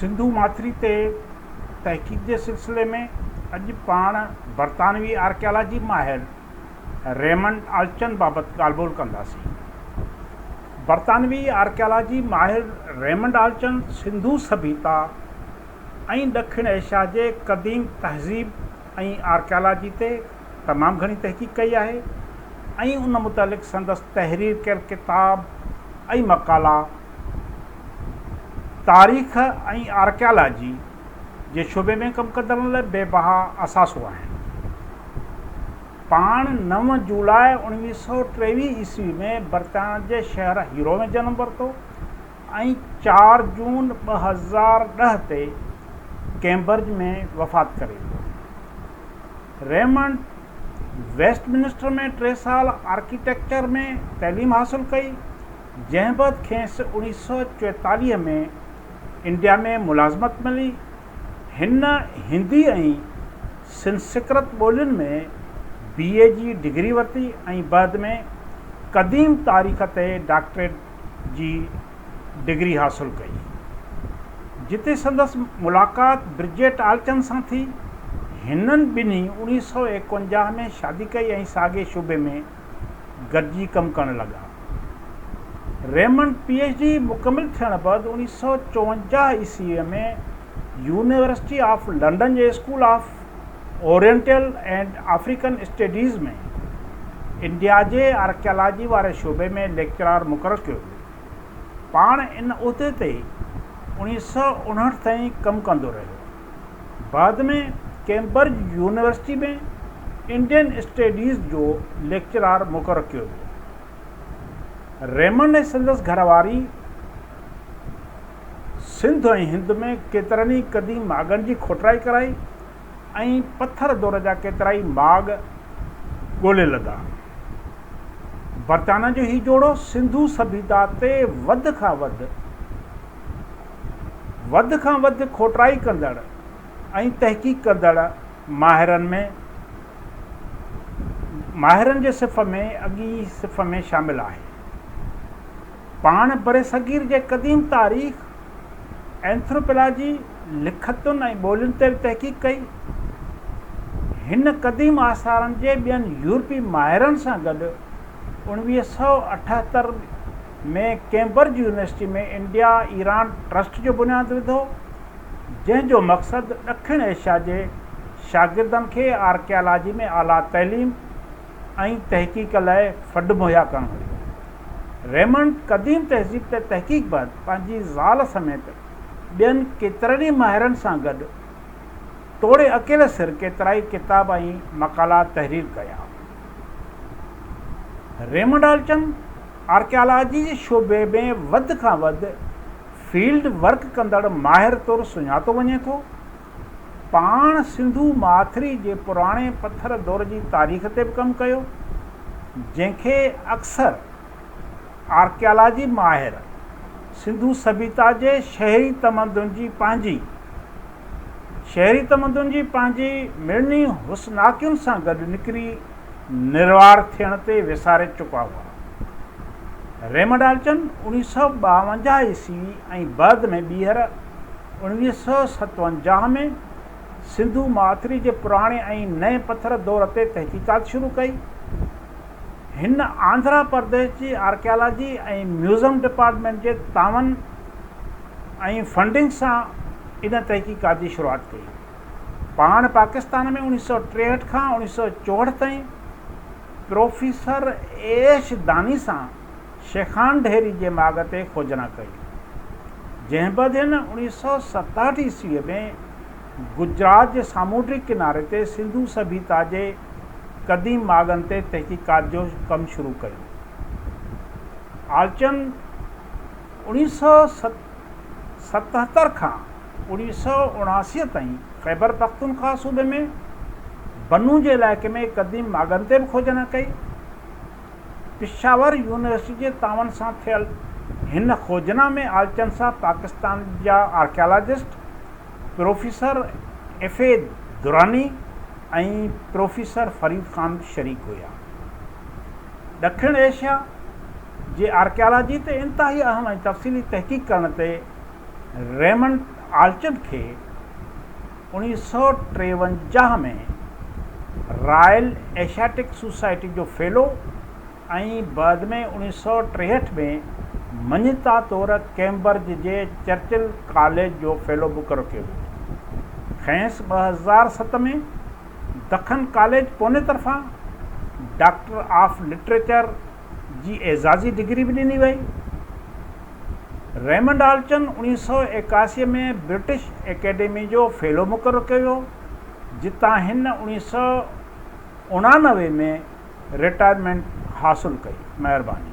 سنڌو ماٿري تي تحقيق جي سلسلي ۾ اڄ پاڻ برطانوي آرڪيالاجي ماهر ريمنڊ آلچن بابت ڳالهه ٻولهه ڪنداسين. برطانوي آرڪيالاجي ماهر ريمنڊ آلچن سنڌو سڀيتا ۽ ڏکڻ ايشيا جي قديم تهذيب ۽ آرڪيالاجي تي تمام گهڻي تحقيق ڪئي آهي ۽ ان متعلق سندس تحرير ڪيل ڪتاب ۽ مقالا تاريخ ۽ آرڪيالاجي جي شعبي ۾ ڪم ڪندڙن لاء بي بها اثاثو آهن. پاڻ نو جولاء اوڻويهه سؤ ٽيويهه عيسوي ۾ برطانيا جي شهر هيرو ۾ جنم ورتو. ۽ چار جون ٻه هزار ڏهه تي ڪئمبرج ۾ وفات ڪري ويو. ريمنڊ ويسٽ منسٽر ۾ ٽي سال آرڪيٽيڪچر ۾ تعليم حاصل ڪئي، جنهن بعد کيس اوڻيهه سؤ چويتاليهه ۾ انڊيا ۾ ملازمت ملي. هن هندي ۽ سنسڪرت ٻولين ۾ بي اي جي ڊگري ورتي ۽ بعد ۾ قديم تاريخ تي ڊاڪٽريٽ جي ڊگري حاصل ڪئي، جتي سندس ملاقات برجيٽ آلچن سان ٿي. هنن ٻنهي اڻيهه سؤ ايڪونجاهه ۾ شادي ڪئي ۽ ساڳئي شعبي ۾ گڏجي ڪم ڪرڻ لڳا. ريمنڊ پي ايڇ ڊي مڪمل ٿيڻ بعد اڻيهه سؤ چوونجاهه عيسويء ۾ يونيورسٽي آف لنڊن جي School of Oriental and African Studies ۾ انڊياجي آرڪيالاجي واري شعبي ۾ ليڪچرار مقرر ڪيو ويو. پاڻ ان عهدي تي اوڻيهه سؤ اڻهٺ تائين ڪم ڪندو رهيو. بعد ۾ ڪيمبرج يونيورسٽي ۾ انڊين اسٽيڊيز جو ليڪچرار مقرر ڪيو ويو. ريمنڊ ۽ سندس گهر واري، سنڌ ۽ هند ۾ ڪيترن ئي قديم ماڳن جي کوٽرائي ڪرائي ۽ پٿر دور جا ڪيترائي ماڳ ڳولي لڌا. برطانيا جو هي جوڙو سنڌو سڀيتا تي وڌ کان وڌ وڌ کان وڌ کوٽرائي ڪندڙ ۽ تحقيق ڪندڙ ماهرن ۾ ماهرن جي صف ۾ اڳئين صف ۾ شامل آهي. پاڻ برصغير جي قديم تاريخ، اينٿروپيلاجي، لکتن ۽ ٻولين تي به تحقيق ڪئي. هن قديم آثارن جي ٻين يورپي ماهرن سان گڏ اوڻويهه سؤ اٺهتر ۾ Cambridge University ۾ India Iran Trust جو بنياد وڌو، جنهن جو مقصد ڏکڻ ايشيا جي شاگردن کي آرڪيالاجي ۾ اعليٰ تعليم، ۽ تحقيق لاء فنڊ مهيا ڪرڻ هيو. ريمنڊ قديم تهذيب تي تحقيق بعد پنهنجي زال سميت ٻين ڪيترن ئي ماهرن سان گڏ توڙي اڪيلي سر ڪيترائي ڪتاب ۽ مقالا تحرير ڪيا. ريمنڊ آلٽن آرڪيالاجي جي شعبي ۾ وڌ کان وڌ فيلڊ ورڪ ڪندڙ ماهر طور سڃاتو وڃي ٿو. پاڻ سنڌو ماٿري جي پراڻي پٿر دور جي تاريخ تي به ڪم ڪيو، جنهن کي اڪثر آرڪيالاجي ماهر سنڌو سڀيتا جي شهري تمدن جي پنهنجي شهري تمدن جي پنهنجي مڙني حسناڪين سان گڏ نڪري نروار ٿيڻ تي وساري چڪا هئا. ريمڊالچن اڻيهه سؤ ٻاونجاهه عيسوي ۽ بعد ۾ ٻيهر اڻويهه سؤ ستونجاهه ۾ سنڌو ماٿري جي پراڻي ۽ نئين پٿر دور تي تحقيقات شروع ڪئي. هن آنڌرا پرديش جي آرڪيالاجي ۽ ميوزم ڊپارٽمينٽ جي تعاون ۽ فنڊنگ سان ان تحقيقات جي شروعات ڪئي. پاڻ پاڪستان ۾ اڻويهه سؤ ٽيهٺ کان اڻويهه سؤ چوهٺ تائين پروفيسر ايش داني سان شيخان ڍيري جي ماڳ تي کوجنا ڪئي، جنهن بعد هن اوڻيهه سؤ ستهٺ عيسويء ۾ گجرات جي سامونڊي ڪناري تي سنڌو سڀيتا جي قديم ماڳن تي تحقيقات جو ڪم شروع ڪيو. آلچند اوڻيهه سؤ ستهتر کان اوڻيهه سؤ اڻاسي تائين خيبرپختونخوا صوبي ۾ بنو جي علائقي ۾ قديم ماڳن تي به کوجنا ڪئي. پشاور يونيورسٽي جي تعاون سان ٿيل هن کوجنا ۾ آلچن سان پاڪستان جا archaeologist professor F A Durrani ۽ professor Farid Khan شريڪ هيا. ڏکڻ ايشيا جي آرڪيالاجي تي انتهائي اهم ۽ تفصيلي تحقيق ڪرڻ تي ريمنڊ آلچن کي اڻيهه سؤ ٽيونجاهه ۾ رائل ايشياٽڪ سوسائٽي جو فيلو ۽ بعد ۾ اڻيهه سؤ ٽيهٺ ۾ مڃتا طور ڪئمبرج جي چرچل ڪاليج جو فيلو مقرر ڪيو ويو. کيس ٻه هزار ست ۾ دکن ڪاليج پوني طرفان ڊاڪٽر آف لٽريچر، جي اعزازي ڊگري به ڏني وئي. ريمنڊ آلچن اوڻيهه سؤ ايڪاسي ۾ برٽش اڪيڊمي جو فيلو مقرر ڪيو ويو، جتان هن اوڻيهه سؤ اڻانوي ۾ رٽائرمينٽ حاصل ڪئي. مهرباني.